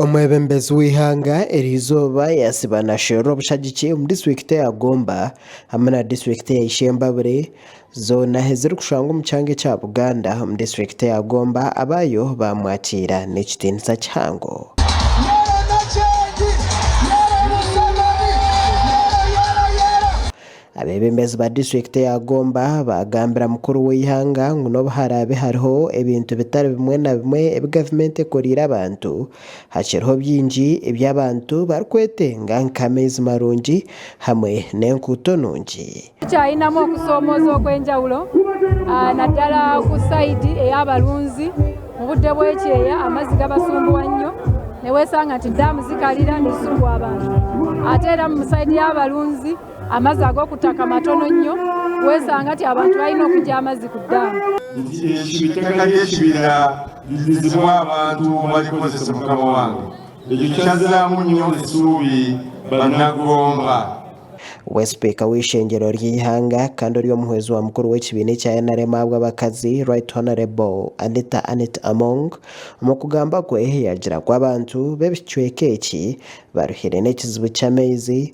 Omwebembezi w'eihanga erizooba yaasiba naasherura obushagiki omu disiturikiti eya Gomba hamwe na disiturikiti eya Ishembabure zoona ezirikushangwa omu kyanga ekya Buganda omu disiturikiti eya Gomba abaayo baamwatiira n'ekitiinisa kihango. Abeebembezi ba disiturikiti ya Gomba baagambira mukuru w'eihanga ngu n'obu haraabe hariho ebintu bitari bimwe na bimwe ebi gavumenti ekoreire abantu, hakiriho bingi ebi abantu barikwetenga nk'amaizi marungi hamwe n'enkuuto nungi. Tukyainamu okusoomoozwa okw'enjawulo nadala ku sayidi ey'abarunzi. Mu budde bw'ekyeeya amaizi gabasumbuwa nnyo niwesanga nti daamu zikarira nizisumbuwa abantu ate era omu sayidi y'abarunzi, Amazi ag'okutaka matono nnyo, wesanga nti abantu balina okugya amazi ku daamu. Nti eki itaka ry'ekibira ridizibwe abantu barikozese mukama wange, ekyo kyazamu nnyo esuubi bana Gomba. We sipiika w'eishengyero ry'eihanga kandi ori omuhwezi wa mukuru w'ekibiina ekya nrm ahabw'abakazi Right Honourable Anita Annet Among omu kugamba kwe yagira ku abantu b'ebicweka eki baruhire n'ekizibu ky'amaizi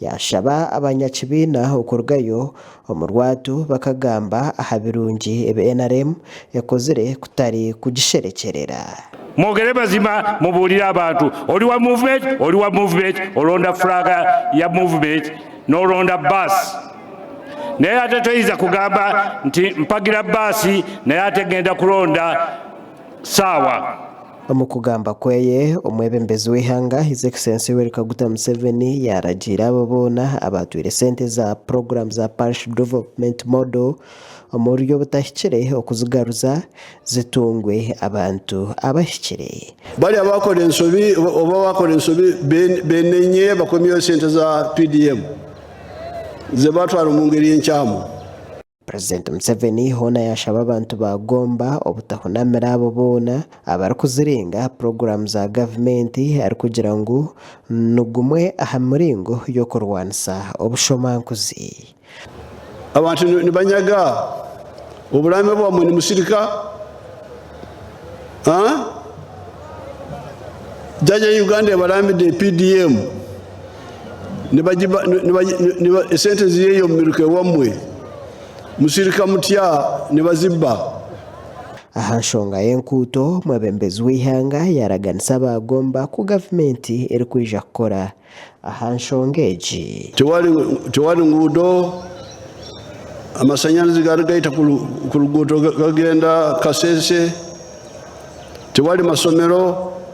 Yaashaba abanyakibiina okurugayo omu rwatu bakagamba aha birungi ebi nrm ekozire kutari kugisherekyerera. Mwogere mazima mubuurire abantu. Ori wa movement, ori wa movement, oronda furaaka ya movement n'oronda baasi. Naye ate toija kugamba nti mpagira baasi naye ate ngenda kuronda saawa. Omu kugamba kweye, omwebembezi w'eihanga His Excellency Yoweri Kaguta Museveni yaragiire abo boona abaatwire sente za puroguramu za Parish Development Model omu buryo butahikire okuzigaruza zitungwe abantu abahikire. Bari abakora ensobi oba abakora ensobi benenye bakomyeho sente za PDM zebatwara omungeri enkyamu. Purezidenti Museveni hoona yashaba abantu ba Gomba obutahunamira abo boona abarikuzirenga aha puroguramu za gavumenti arikugira ngu nigumwe aha miringo y'okurwanisa obushomankuzi. Abantu nibanyaga oburaame bwamwe nimusirika Jaja ya Uganda ebarambide PDM. esente nizirya omu miruka ewamwe, musirika mutya nibaziba. Aha nshonga y'enkuuto, omwebembezi w'eihanga yaaraganisa abaagomba ku gavumenti erikwija kukora aha nshonga egi. Tewari nguudo, amashanyarazi gari gaita ku ruguuto gagenda Kasese, tewari mashomero.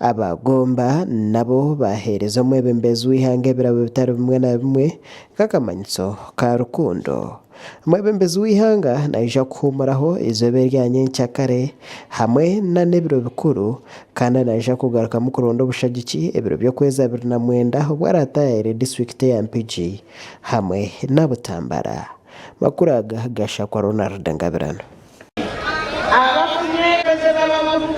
Abaagomba nabo baaheereza omwebembeezi w'eihanga ebirabo bitari bimwe na bimwe nk'akamanyiso ka rukundo. Omwebembeezi w'eihanga naija kuhuumuraho eizooba erya nyenkya kare hamwe n'ebiro bikuru, kandi naija kugarukamu kuronda obushagiki ebiro by'okwezi abiri na mwenda obu araataayaire disiturikiti ya Mpigi hamwe na Butambara. Amakuru aga ga Shakwa Ronald Ngabirano.